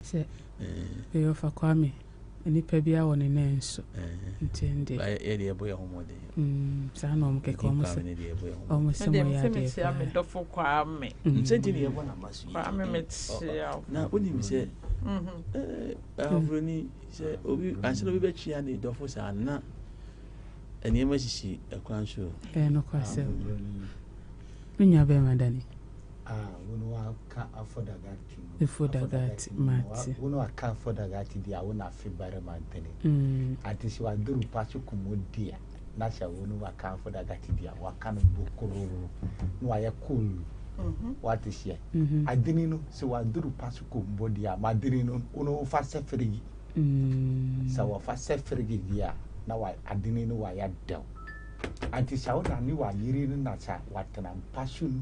Sɛ ɛyɛ ɔfa Kwame nipa bia wɔ ne nan nso nti ɛnde. Ba yɛ deɛ ɛbɔ yɛ ho mɔden. Mm saa na wɔn kɛkɛ wɔn sɛ wɔn sɛ mo yɛ adeɛ paa. Me dɔfo Kwame. Nsɛ nti na yɛ bɔ na ma so yi. Kwame me tia. Na o nim sɛ ɛɛ aburoni sɛ obi ansa na obi bɛ tia ne dɔfo saa na nneɛma sisi ɛkwan so. Ɛɛ no kɔ asɛm. Me nua bɛrima dani. Ah wɔn wa ka afɔ dagan. Fodagati Mati. Wo ne ɔka Fodagati di a wo na afe barima ntini. Ati se waduru pa so kum wo di a na se wo ne waka Fodagati di a waka no bokororo na wayɛ cool wate seɛ. Adini no se waduru pa so kum bo di a madini no wo ne wo fa sɛ firigi. Sɛ wɔfa sɛ firigi di a na wa adini no wayɛ dɛw. Ati sa wo na ne wayiri no na sa watena mpa so no.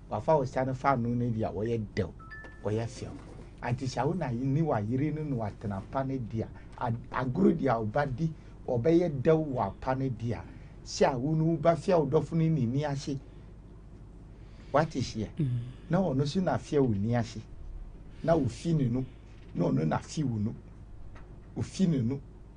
Wafa wo sane fa no no bi a ɔyɛ dɛw, ɔyɛ fɛw. Anti hyɛ wo na ne wa yere no na watena pa no di a, agoro di a ɔba di, ɔbɛyɛ dɛw wɔ apa no di a, hyɛ a wo no wo ba fia wo dɔfo no ne ni ase. Wate hyɛ. Na ɔno so na fia wo ni ase. Na ofi ne no, na ɔno na fi wo no. Ofi ne no.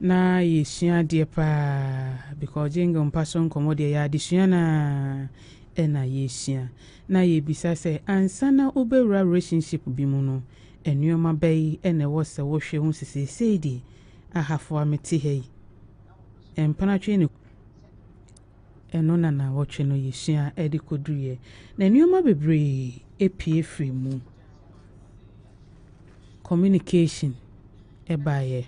Na yɛsua adeɛ paa because Jingle mpa so nkɔmmɔ deɛ ɛyɛ adesua no ara na yɛsua. Na yɛbisa sɛ ansa na wobɛwura relationship bi mu no nnoɔma bɛn na ɛwɔ sɛ wohwɛ hu sɛ seesei deɛ ahafoa mete ha yi mpena twe ne ɛno na nawɔtwe no yɛsua ɛde kɔduruiɛ na nnoɔma bebree ɛpie firi mu communication ɛbaeɛ.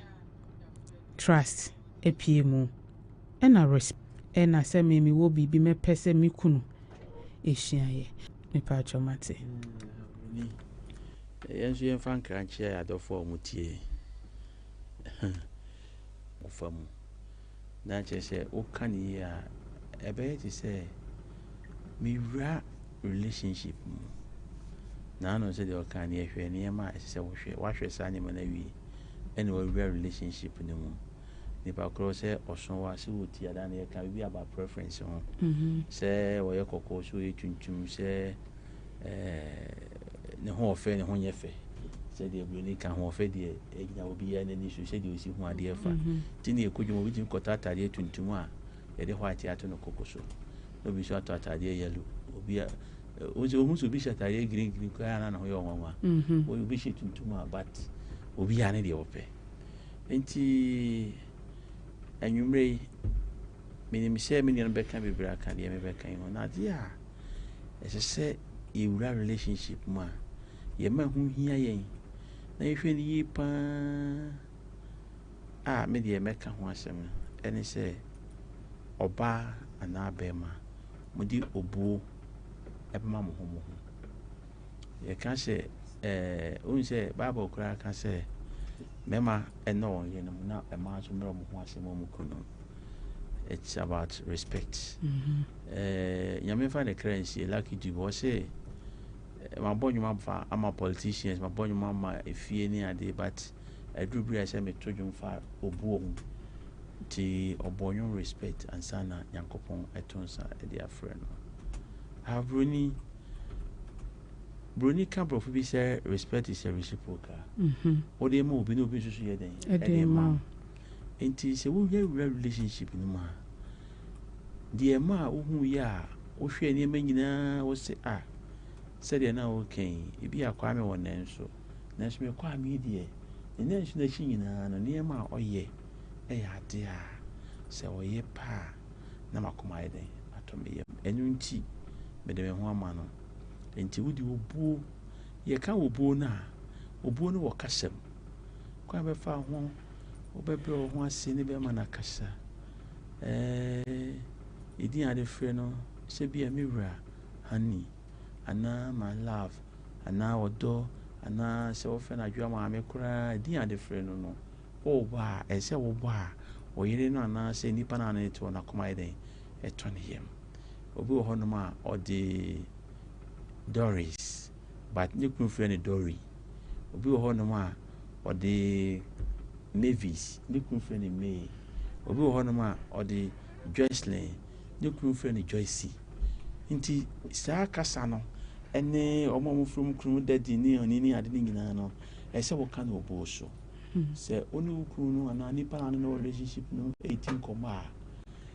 trust apue mu ɛna res ɛna sɛ me mewɔ biribi mɛpɛ sɛ me kunu ɛsua yɛ mepa atwa mate yɛn nso yɛmfa nkra nkyerɛ adɔfo a wɔtie ɔfa mu na kyerɛ sɛ woka no yie a, ɛbɛyɛ te sɛ mewura relationship mu. Naano sɛdeɛ ɔka no yɛhwɛ nneɛma a ɛsɛ sɛ wohwɛ. Woahwɛ saa nneɛma no awie ɛna wawura relationship no mu. Nipa korɔ sɛ ɔso wa sɛ wɔ ti adaa na yɛka biribi aba preference ho. Mhm. Sɛ wɔyɛ kɔkɔɔ sɛ wɔyɛ tuntum sɛ ɛɛɛ ne hoɔfɛ ne ho nyɛ fɛ sɛdeɛ buroni ka hoɔfɛ deɛ ɛgyina obiara n'ani so sɛdeɛ ɔsi ho adeɛ fa mhm. nti ne ɛkɔdwom obi tumi kɔtɔ ataadeɛ tuntum a yɛde white ato no koko so na obi nso atɔ ataadeɛ yellow obi a ɔsɛ ɔhu sɛ obi hyɛ ataadeɛ green green koraa na ne ho yɛ ɔnwanwa mhm. obi hyɛ tuntum a but obiara ne deɛ ɔpɛ nti anwummerɛ yi menim sɛ me nuanom bɛka bebree aka deɛ mebɛka yi ho na adeɛ a ɛsɛ sɛ yɛwura relationship mu a, yɛma ɛho hia yɛn na yɛhwɛ no yie paa a me deɛ mɛka ho asɛm no ɛne sɛ ɔbaa anaa bɛrima mode obuo ɛbɛma mo ho mo ho yɛka sɛ ɛɛ ohun sɛ bible koraa ka sɛ mmarima ɛna wɔn yerenom na mmaa nso mmerɛ wɔn ho ase ma wɔn kunu it's about respect mm-hmm. ɛɛ nyame fa ne kra nsie lucky dube wɔsɛ mabɔ nnwuma fa ama politicians mabɔ nnwuma ma efie ne adeɛ but aduru bi a sɛ meto dwom fa obuo ho nti ɔbɔ nnwom respect ansa na nyankopɔn ɛto nsa ɛde afrɛ no aburoni Buroni ka Borɔfo bi sɛ respect is a reciprocal. Wode ma obi na obi nso so yɛ dɛn? Ɛde ma wo. Nti sɛ wohwɛ wura relationship no mu a, deɛ ɛma a wohu yɛ a wohwɛ nneɛma nyinaa wo se a sɛdeɛ na woka yi, ebi a Kwame wɔ nanso nanso me Kwame deɛ ne nanso n'akyi nyinaa no nneɛma a ɔyɛ ɛyɛ adeɛ a sɛ ɔyɛ paa na m'akoma ayɛ dɛn? Atɔ me yam. Ɛno nti, mede me ho ama no. Enti wode obuo, yɛka obuo no a, obuo no wɔ kasa mu. Kwan bɛfa ho, wobɛbrɛ wo ho ase ne bɛrima no akasa. Ɛɛ, ɛdin a de frɛ no, sɛ bi a me wura, honey, anaa my love, anaa ɔdɔ, anaa sɛ wɔfrɛ no adwoa maame koraa, ɛdin a de frɛ no no, Woreba a, ɛsɛ sɛ wobɔ a wo yere no anaasɛ nipa no a wo ne no te hɔ no akoma yɛ dɛn? Ɛtɔ ne yam. Obi wɔ hɔnom a, ɔde Doris, but ne kunu frɛ no Dori. Obi wɔ hɔnom a, ɔde Mavis, ne kunu frɛ no May. Obi wɔ hɔnom a, ɔde Joycelyn, ne kunu frɛ no Joyce. Nti saa kasa no ne wɔn a wɔfrɛ wɔn kununom daddy ne ɔne ne ade no nyinaa no, ɛsɛ sɛ woka no obuo so. Sɛ wo ne wo kunu no anaa nipa a ɔne no wɔ relationship no redi nkɔmmɔ a,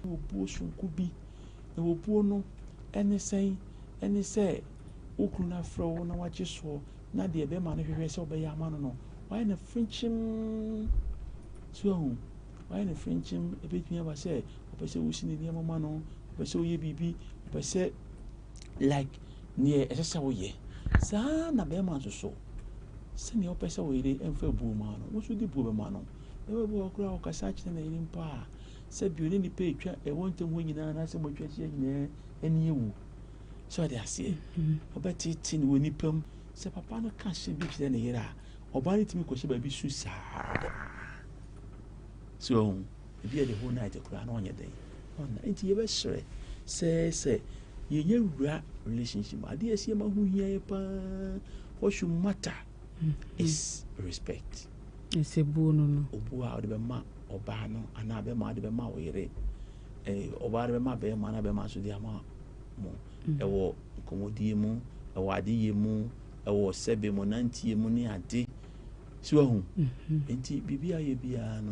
na obuo soronko bi. Na obuo no ne sɛn? Ɛne sɛ wo kunu no afrɛ wo na wagye soɔ na deɛ bɛrima no hwehwɛ sɛ ɔbɛyɛ ama no no, wayɛ no frenkyem. So ahu, wayɛ no frenkyem. Ebetumi aba sɛ ɔpɛ sɛ wosi ne nneɛma ma no, ɔpɛ sɛ ɔyɛ biribi, ɔpɛ sɛ like nea ɛsɛ sɛ woyɛ. Saa ara na barima nso so, sɛnea wopɛ sɛ wo yere mfa buo ma no, wo nso de buo bɛma no. Ɛwɔ bi wɔ koraa ɔkasa akyerɛ ne yere mpo a, sɛ bio ne nipa etwa ɛwɔ ntam hɔ nyinaa anaasɛ mo atwa ahyia nyinaa ani ewu. Sɛ ɔde aseɛ, ɔbɛtete ne wɔ nipa mu. Sɛ papa no ka hyɛ bi kyerɛ ne yere a, ɔbaa no tumi kɔhyɛ baabi su saa. So Ebia the whole night koraa na ɔnyɛ dɛn ɔnna nti yɛbɛsrɛ sɛ sɛ yɛnyɛ wura relationship mu adeɛ ɛsɛ yɛma ho hia yɛ paa what should matter mm-hmm. is respect ɛsɛ buo no no obuo a ɔde bɛma ɔbaa no anaa bɛma ɔde bɛma ɔyere eh, ɔbaa de bɛma bɛrima anaa bɛrima nso de ama mo mm-hmm. ɛwɔ nkɔmmɔdie mu ɛwɔ adeyɛ mu ɛwɔ sɛbe mu nanteɛ mu ne ade so ahu mm-hmm. nti biribi ayɛ biara no